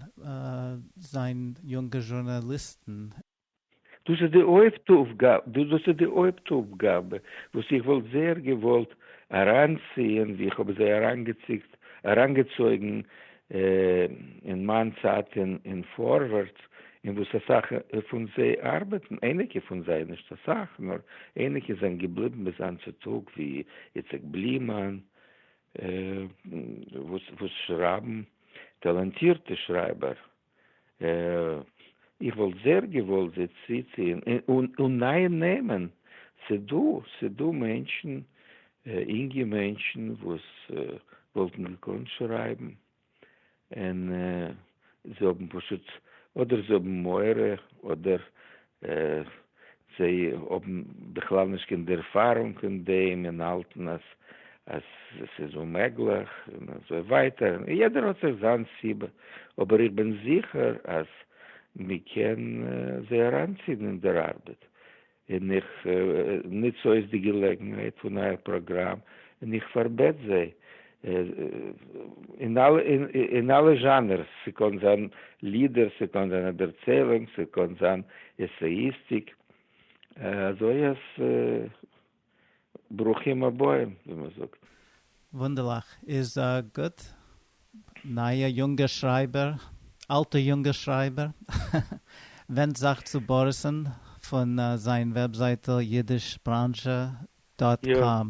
זיין יונגע זשורנאליסטן. דאס איז די הויפט אויפגאבע וואס איך וואלט זייער געוואלט אריינציען ווי איך האב זיי אריינגעציקט אריינגעצויגן אין מיין צייט אין פארווערטס אין וואס אסאך פון זיי ארבעטן אייניקע פון זיי נישט אסאך נאר אייניקע זענען געבליבן ביז היינט צו טאג ווי איציק בלימאן וואס שרייבן טאלאנטירטע שרייבער. איך וואלט זייער געוואלט זיי צוציען און נייע נעמען, ס'דא ס'דא מענטשן אינגע מענטשן וואס וואלטן געקאנט שרייבן און זיי האבן פשוט אדער זיי האבן מורא אדער אה, זיי האבן בכלל נישט קיין ערפארונג אין דעם און האלטן אז אז עס איז אוממעגליך און אזוי ווייטער, יעדער האט זיך זיין סיבה, אבער איך בין זיכער אז מען קען זיי אריינציען אין דער ארבעט, און איך נוץ אויס די געלעגנהייט פון אייער פראגראם און איך פארבעט זיי אין אלע אין אלע זשאנערס, ס'קען זיין לידער, ס'קען זיין א דערציילונג, ס'קען זיין עסעיסטיק, אזוי אז ברוכים הבאים ווי מ'זאגט. וואונדערליך, איז גוט, נייע יונגע שרייבער, אלטע יונגע שרייבער, ווענדט זיך צו באריס'ן פון זיין וועבזייטל אידישבראנזשע דאט קאם.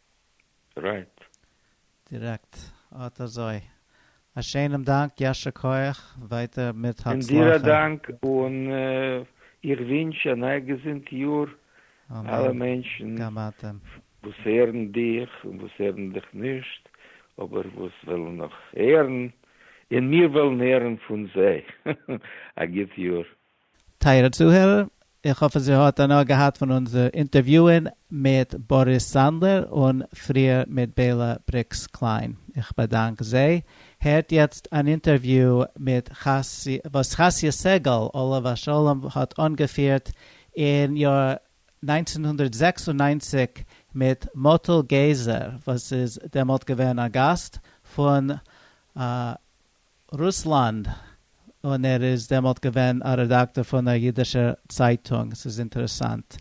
רייט. דירעקט. אט אזוי. א שיינעם דאנק, יישר כח, ווייטער מיט און דיר א הצלחה. דאנק, און איך ווינטש א ניי געזונט יאר אלע אמן. מענטשן גם אתם. וואס הערן דיך און וואס הערן דיך נישט, אבער וואס ווילן נאך הערן, און מיר וועלן הערן פון זיי. א גוט יאר. טייערע צוהערער, איך האף אז איר האט הנאה געהאט פון אונזער אינטערוויוען מיט באריס סאנדלער און פריער מיט בעלא בריקס קליין. איך באדאנק זיי. הערט יעצט אן אינטערוויו מיט וואס חסיה סגל עליו השלום האט אנגעפירט אין יאר נײַנצן הונדערט זעקס און נײַנציק מיט מאטל געזער וואס איז דעמאלט געווען א גאסט פון רוסלאנד, און ער איז דעמאלט געווען א רעדאקטאר פון א אידישער צייטונג, ס'איז אינטערעסאנט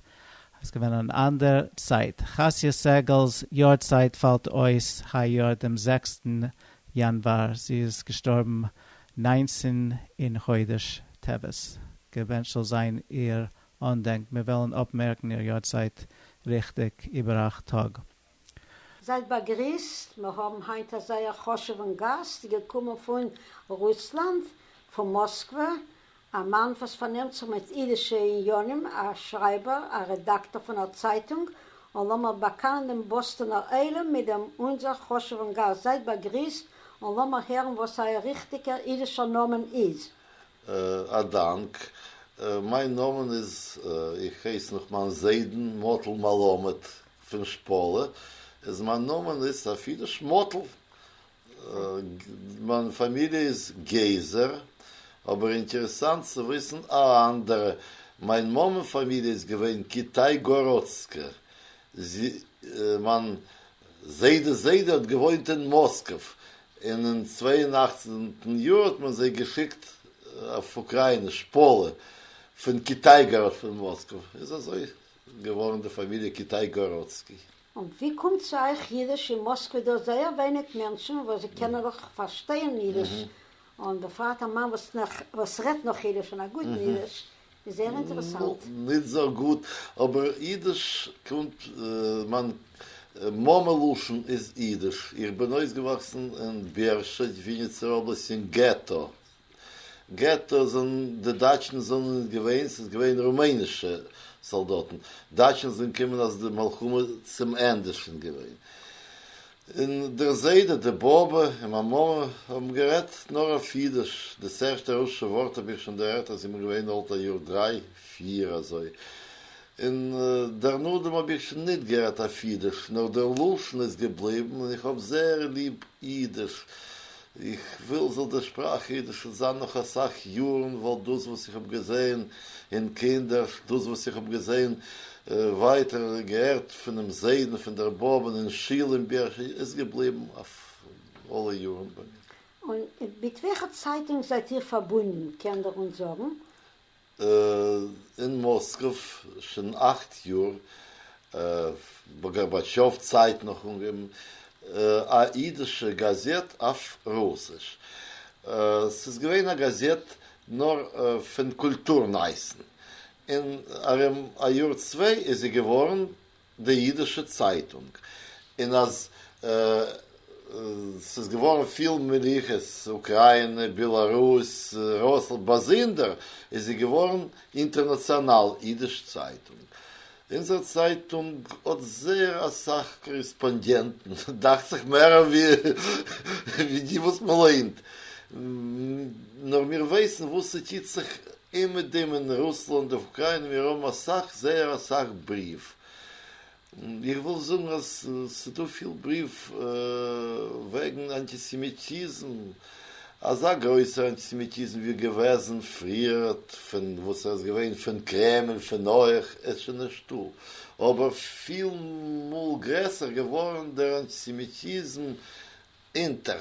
אז ס'געווען אין אן אנדער צייט. חסיה סעגעל'ס יארצייט פאלט אויס היי יאר דעם זעקסטן יאנוואר, זי איז געשטארבן נײַנצן אין חודש טבת, געווענטשט זאל זיין איר אנדענק, מיר וועלן אפמערקן איר יארצייט ריכטיג איבער אכט טאג. זייט באגריסט, מיר האבן היינט א זייער חשוב'ן גאסט געקומען פון רוסלאנד, פון מאסקווע, א מאן וואס פארנעמט זיך מיט אידישע עניינים, א שרייבער, א רעדאקטאר פון א צייטונג, און לאמיר באקאנען דעם באסטאנער עולם מיט דעם אונזער חשוב'ן גאסט, זייט באגריסט און לאמיר הערן וואס אייער ריכטיגער אידישער נאמען איז. א דאנק. מיין נאמען איז, איך הייס נאך מיין זיידן, מאטל מלמד, פון שפאלע איז מיין נאמען איז אפי' נישט מאטל, מיין פאמיליע איז געזער, אבער אינטערעסאנט צו וויסן א אנדערע, מיין מאמען פאמיליע איז געווען קיטאי-גאראדסקע, מיין זיידעס זיידע האט געוואוינט אין מאסקוו, און אין צוויי און אַכצן יאר האט מען זיי געשיקט אויף אוקריינע, שפאלע, פון קיטאי-גאראד פון מאסקוו, איז אזוי. געווארן די פאמיליע קיטאי-גאראצקי. און ווי קומט צו אייך אידיש? אין מאסקווע דא זייער ווייניג מענטשן וואס קענען נאך פארשטייען אידיש, און בפרט א מאן וואס רעדט נאך אידיש און א גוטן אידיש, איז זייער אינטערעסאנט. נישט זייער גוט, אבער אידיש קומט, מיין מאמע לשון איז אידיש, איך בין אויסגעוואקסן אין בערשעד, וויניצער אבלאסט אין געטא. געטא זענען די דייטשן זענען ניט געווען, ס'איז געווען רומענישע סאלדאטן. דייטשן זענען געקומען אז די מלחמה צום ענדע איז שוין געווען. און דער זיידע, די באבע און מיין מאמע האבן גערעדט נאר אויף אידיש. דאס ערשטע רוסישע ווארט האב איך שוין דערהערט אז איך בין געווען אלט א יאר דריי פיר אזוי. און דערנאדעם האב איך שוין ניט גערעדט אויף אידיש, נאר דער לשון איז געבליבן און איך האב זעהר ליב אידיש. איך וויל זאל די שפראך אידיש שוין זיין נאך אסאך יארן, ווייל דאס וואס איך האב געזען אין קינדערשט, דאס וואס איך האב געזען ווייטער, געהערט פונעם זיידן, פון דער באבע, אין שול, אין ביהכ, איז געבליבן אויף אלע יארן ביי מיר. און מיט וועלכע צייטונג זייט איר פארבונדן, קען דער אונז זאגן? אין מאסקוו שוין אכט יאר, גארבאטשאוו צייט נאך אנגעהויבן א אידישע גאזעט אויף רוסיש, ס'איז געווען א גאזעט נאר פון קולטור נייעסן, און ארום א יאר צוויי איז זי געווארן די אידישע צייטונג, און אז ס'איז געווארן פיל מלוכות, אוקריינע, בעלארוס, רוסלאנד, באזונדער איז זי געווארן אינטערנאציאנאל אידיש צייטונג. אונזער צייטונג האט זייער אסאך קאריספאנדענטן, דאכט זיך מער ווי די וואס מ'ליינט, נאר מיר ווייסן וואס ס'טוט זיך און מיט דעם אין רוסלאנד אויף אוקריינע מיר האבן אסאך זייער אסאך בריוו, איך וויל זאגן אז ס'דא פיל בריוו וועגן אנטיסעמיטיזם, אזא גרויסער אנטיסעמיטיזם ווי געוועזן פריער פון וואס ער איז געווען פון קרעמל פון אויך איז שוין נישטא, אבער פיל מאל גרעסער געווארן דער אנטיסעמיטיזם אונטער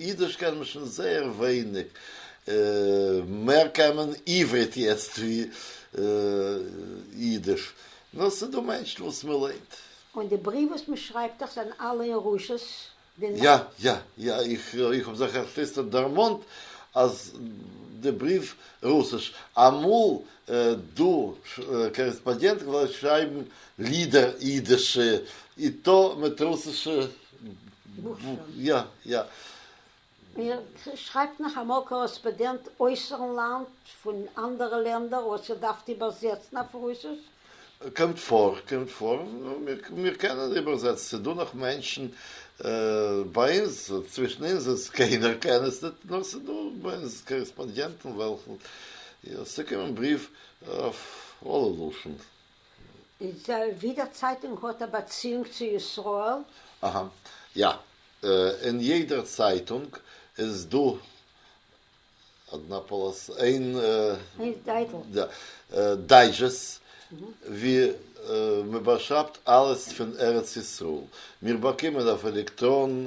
אידיש קען מען שוין זייער ווייניג, מער קען מען עברית יעצט ווי אידיש, נאר ס'איז דא מענטשן וואס מען ליינט. און די בריוו וואס מען שרייבט דיך זענען אלע אין רוסש? יא יא יא, איך האב זיך ערשט איצטערט דערמאנט אז די בריוו רוסיש, אמאל דא קארעספאנדיענטן געלאזט שרייבן לידער אידישע, איטא מיט רוסישע בוך שוין. יא יא. איר שרייבט נאך אמאל קאראספאדענט אויסערן לאנד פון אנדערע לענדער וואס איר דארפט איבערזעצן אויף רוסיש? קומט פאר, קומט פאר, מיר קענען איבערזעצן, ס'איז דא נאך מענטשן ביי אונז, צווישן אונז איז קיינער קען עס ניט, נאר ס'איז דא ביי אונז קאריספאנדיענטן וועלכן ס'קומען בריוו אויף אלע לשון. די ווידער צייטונג האט א באציאונג צו ישראל? אהא. יא. אין יעדער צייטונג איז דא אדנאפאלוס איין דייזשעסט ווי מ'באשרייבט אלעס פון ארץ ישראל. מיר באקומען אויף עלעקטראן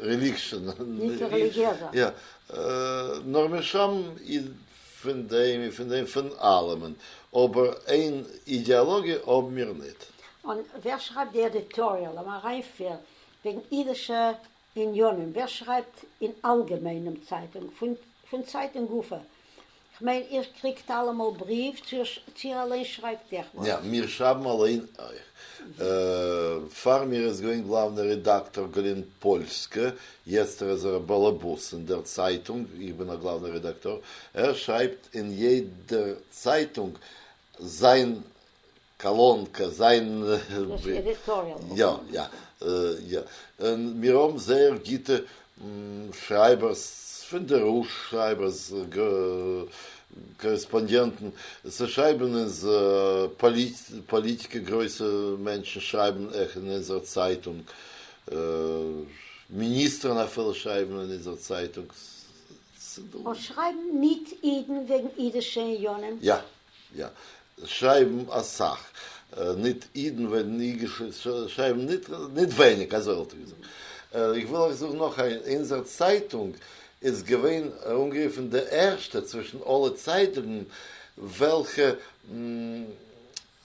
רעליגשען, נישט רעליגיעזע. יא, נאר מיר שרייבן איד פון דעם און פון דעם, פון אלעמען, אבער איין אידעאלאגיע האבן מיר ניט. און ווער שרייבט די עדיטאריעל, אן אריינפיר, וועגן אידישע עניינים? ווער שרייבט אין אלגעמיין דעם צייטונג, פון צייטונג גופא? כ'מיין איר קריגט אלעמאל בריוו צו איר אליין שרייבט עכ פ? יא, מיר שרייבן אליין אויך. פאר מיר איז געווען גלאוונער רעדאקטאר גלען פאלסקע, יעצט ער איז ער א באלעבאס אין דער צייטונג, איך בין א גלאוונער רעדאקטאר, ער שרייבט אין יעדער צייטונג זיין קאלון קען זיין עדיטאריעל יא יא יא און מיר האבן זייער גוטע שרייבערס פון די ראש שרייבערס קארעספאנדיענטן צו שרייבן אונז פאליטיק גרויסע מענטשן שרייבן אויך אין אונזער צייטונג מיניסטערן אפילו שרייבן אין אונזער צייטונג ס'דא און שרייבן מיט אידן וועגן אידישע עניינים יא יא, שרייבן אסאך ניט אידן וועגן אידיש, שרייבן ניט ווייניק, אזוי וואלט איך געזאגט. איך וויל אייך זאגן נאך איינס, אונזער צייטונג איז געווען אנגערופן די ערשטע צווישן אלע צייטונגן וועלכע,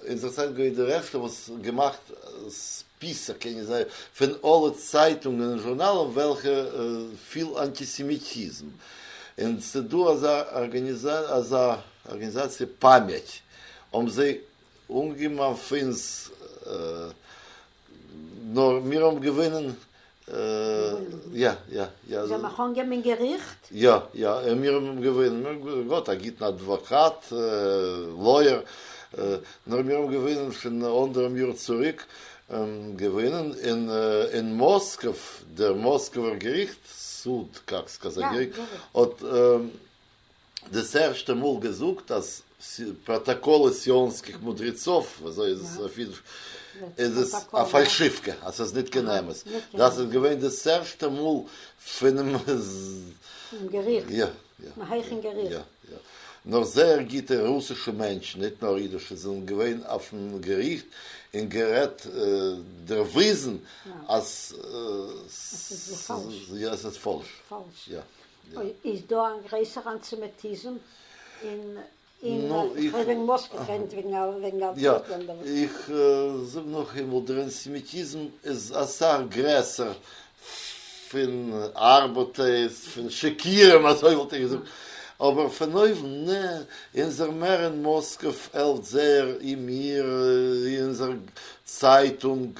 אונזער צייטונג איז געווען די ערשטע וואס געמאכט ספיסע קעגן זיי פון אלע צייטונגן און זשורנאלן וועלכע פיל אנטיסעמיטיזם, און ס'דא אזא ארגאניזאציע, אזא. ארגענזאציע פאמעט האבן זיי אנגעגעבן אויף אונז נאר מיר האבן געוואונען. יא יא יא. זיי האבן אייך אנגעגעבן אין געריכט? יא יא און מיר האבן געוואונען, מיר האבן געהאט א גוטן אדוואקאט, לויער, נאר מיר האבן געוואונען פון אנדערעם יאר צוריק, געוואונען אין מאסקוו, דער מאסקווער געריכט, סוד קאקס קאזאק געריכט, האט. דאס ערשטע מאל געזאגט אז פראטאקאל איז סיאנזקיג מודריצוב, וויאזוי איז עס אויף אידיש? איז עס א פאלשיווקע, אז עס איז ניט קיין אמת. דאס איז געווען דאס ערשטע מאל פונעם געריכט, פונעם הייכן געריכט. נאך זייער גוטע רוסישע מענטשן, ניט נאר אידישע, זענען געווען אויפן געריכט און גערעדט, דערוויזן אז עס איז פאלש. איז דא א גרעסערע אנטיסעמיטיזם אין אין וועגן מאסק גערעדט וועגן וועגן אלטערנאטיוו לענדער וואס. איך זאג נאך איינמאל דער אנטיסעמיטיזם איז אסאך גרעסער פון ארבעטערס פון שקירים אזוי וואלט איך געזאגט אבער פון אויבן נע אונזער מער אין מאסק פעלט זייער אין מיר אונזער צייטונג